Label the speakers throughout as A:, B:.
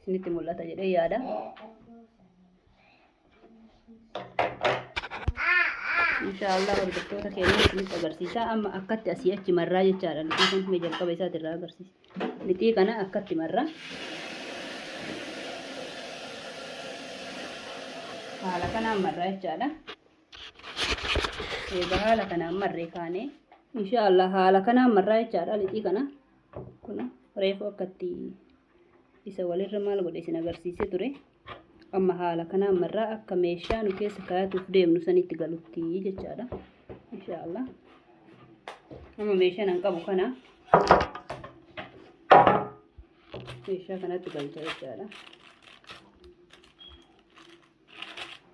A: isinitti mul'ata jedhee yaada. Inshaallah hordoftoota keenya isinitti agarsiisa. Amma akkatti asii achi marraa jechaadha. Lixii kun mee jalqaba isaati irraa agarsiisa. Lixii kana akkatti marraa. Haala kanaan marraa jechaadha. Egaa haala kanaan marree kaanee. Inshaallah haala kanaan marraa jechaadha lixii kana. Kun reefu akkatti isa walirra maal godhe isin agarsiisee ture amma haala kanaa marraa akka meeshaa nu keessa kaayatuuf deemnu sanitti galutti jechaadha inshaallah amma meeshaan an qabu kana meeshaa kanatti galcha jechaadha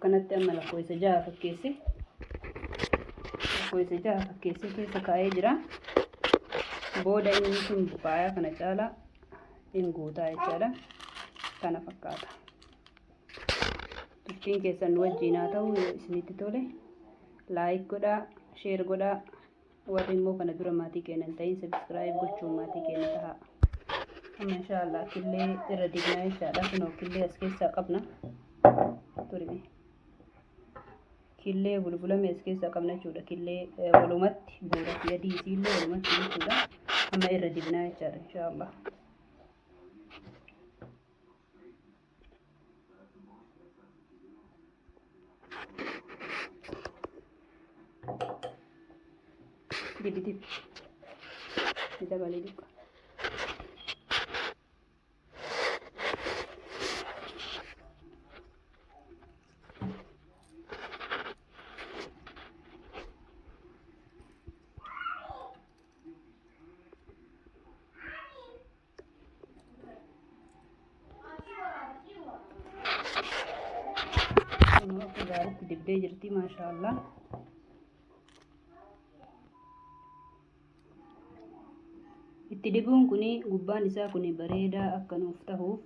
A: kanatti amma lakkoofsa jaha fakkeesse lakkoofsa jaha fakkeessee keessa kaa'ee jira booda inni sun buqaayaa kana caalaa in guutaa jechaadha kana fakkaata turtiin keessan wajjiin haa ta'u isinitti tole laayik godhaa sheer godhaa Warri immoo kana dura maatii keenya hin ta'in subscribe gochuun maatii keenya tahaa. Amma insha Allah killee irra dignaa insha Allah kunoo killee as keessaa qabna. Turime. Killee bulbulame as keessaa qabna jechuudha. Killee eh, walumatti buura fi adii isiillee walumatti jechuudha. Amma irra dignaa jechaadha insha Allah. Dibidib. Dabalee dibba. gaaritti dibdee jirti maashaallah itti dibuun kun gubbaan isaa kun bareedaa akka nuuf tahuuf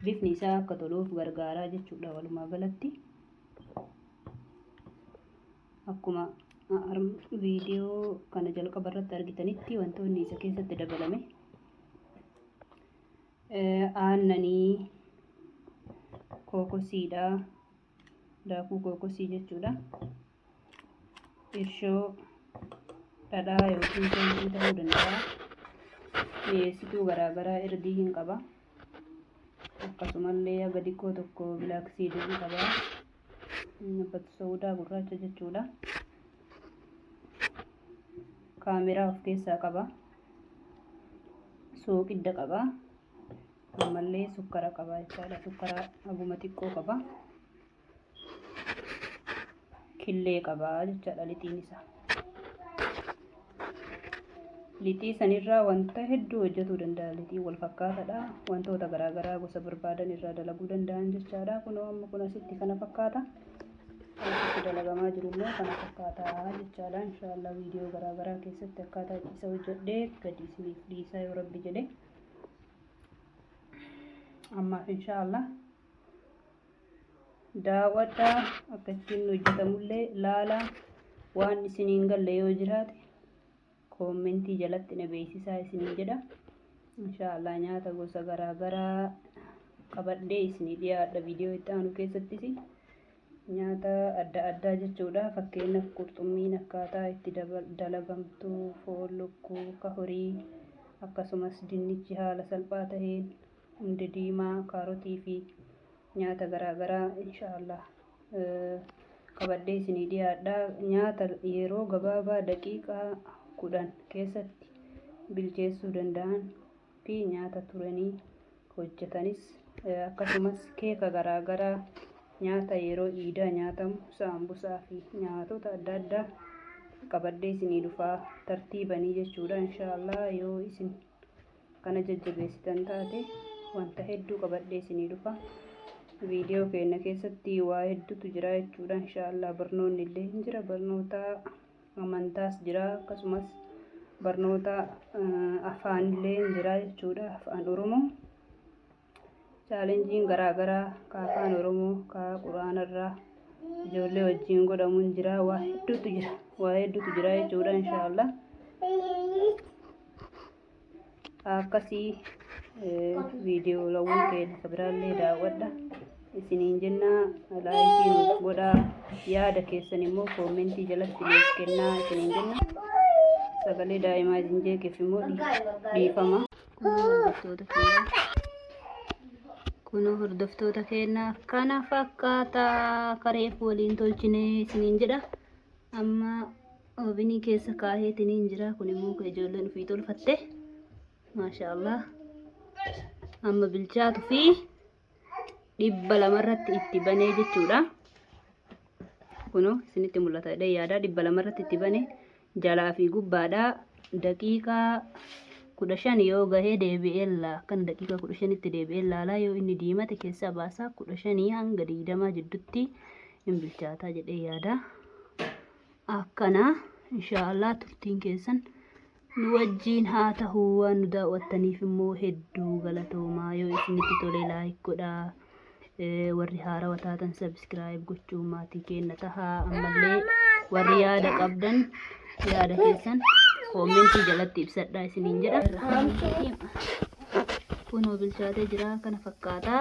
A: bifni isaa akka toluuf gargaaraa jechuudha walumaa galatti Akkuma viidiyoo kana jalqaba irratti argitanitti wantoonni isa keessatti dabalame aannanii kookosiidha. Daakuu kookosii jechuudha. Irshoo dhadhaa yookiin foonii ta'uu danda'a. Mi'eessituu garaagaraa irdii hin qaba. Akkasumallee haga xiqqoo tokko bilaaksiidii hin qaba. Nabat Saudaa gurraacha jechuudha. Kaameraa of keessaa qaba. Sooqidda qaba. Ammallee sukkara qaba jechaadha. Sukkara haguma xiqqoo qaba. Killee qaba jechaadha lixiin isaa. Lixii sanirraa wanta hedduu hojjetuu danda'a. Lixiin wal fakkaataadha. Wantoota garaagaraa gosa barbaadan irraa dalaguu danda'an jechaadha. Kunoo amma kun asitti kana fakkaata. Asitti dalagamaa jiru immoo kana fakkaata jechaadha. Inshaallah viidiyoo garaagaraa keessatti akkaataa isa hojjedhee gadi isiniif dhiisaa yoo rabbi jedhe. Ammaaf inshaallah daawwadhaa akka ittiin hojjetamullee laalaa waan isin hin galle yoo jiraate koommentii jalatti na beeksisaa isiniin jedha inshaallah nyaata gosa garaa garaa qabadhee isinii dhiyaadha viidiyoo itti aanu keessattis nyaata adda addaa jechuudha fakkeenyaaf qurxummiin akkaataa itti dalagamtu foon lukkuu ka horii akkasumas dinnichi haala salphaa ta'een Hundee diimaa, kaarotii fi nyaata garaa garaa inshaa Allah qabadhee isinii dhiyaadha. Nyaata yeroo gabaabaa daqiiqaa 10 keessatti bilcheessuu danda'an fi nyaata turanii hojjetanis akkasumas keeka garaa garaa nyaata yeroo iidaa nyaatamu saambusaa fi nyaatota adda addaa qabadhee isinii dhufaa tartiibanii jechuudha inshaa Allah yoo isin kana jajjabeessitan taate wanta hedduu qabadhee isinii dhufa viidiyoo keenya keessatti waa hedduutu jira jechuudha inshaallah barnoonni illee hin jira barnoota amantaas jira akkasumas barnoota afaanillee hin jira jechuudha afaan oromoo Chaalenjiin garaagaraa ka afaan Oromoo ka Qur'aanarraa ijoollee wajjin godhamuun jira waa hedduutu jira waa hedduutu jira jechuudha inshaallah akkasii viidiyoolawwan keenya ka biraallee daawwadha isiniin jennaa laayikii nuuf godhaa yaada keessan immoo koomentii jalatti nuuf kennaa isiniin jenna sagalee daa'imaa isin jeeqeef immoo dhiifama Kunoo hordoftoota keenya. Kunoo hordoftoota keenya kana fakkaata kareef waliin tolchine isiniin jedha. Amma oobinii keessa kaaheetiniin jira. Kun immoo kan ijoolleen ofii tolfatte. Maashaa Allah. Amma bilchaatu fi dhibba lama irratti itti banee jechuudha. Kunoo isinitti mul'ata jedhee yaada dhibba lama irratti itti bane jalaa fi gubbaadha daqiiqaa kudha shan yoo gahee deebi'ee laa kan daqiiqaa kudha shanitti deebi'ee laalaa yoo inni diimate keessaa baasaa kudha shanii hanga digdamaa jiddutti hin bilchaataa jedhee yaada. Akkana inshaallah turtiin keessan. Nu wajjiin haa tahu waan nu daawwattaniif immoo hedduu galatoomaa yoo isinitti tole like godhaa Eh, warri haarawa taatan subscribe gochuun maatii keenna tahaa ammallee warri yaada qabdan yaada keessan koomentii jalatti ibsadhaa isiniin jedha kunoo bilchaatee jira kana fakkaataa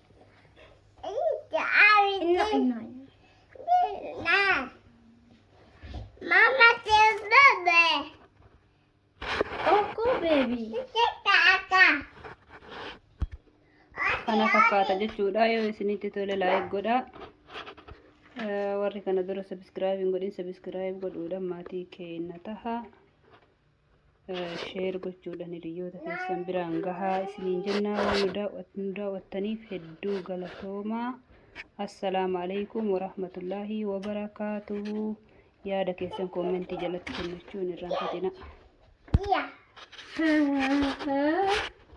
A: kana fakkaata jechuudha yoo isinitti tole laayik godha warri kana dura sabiskiraayib hin godhin sabiskiraayib godhuudhaan maatii keenya taha sheer gochuudhaan hiriyoota keessan biraan gahaa isiniin jennaa waan nu daawwattaniif hedduu galatoomaa. Assalaamu alaikum warahmatullaahi wabarakaatuhu. Yaada keessan koomentii jalatti kennachuun irraanfatina.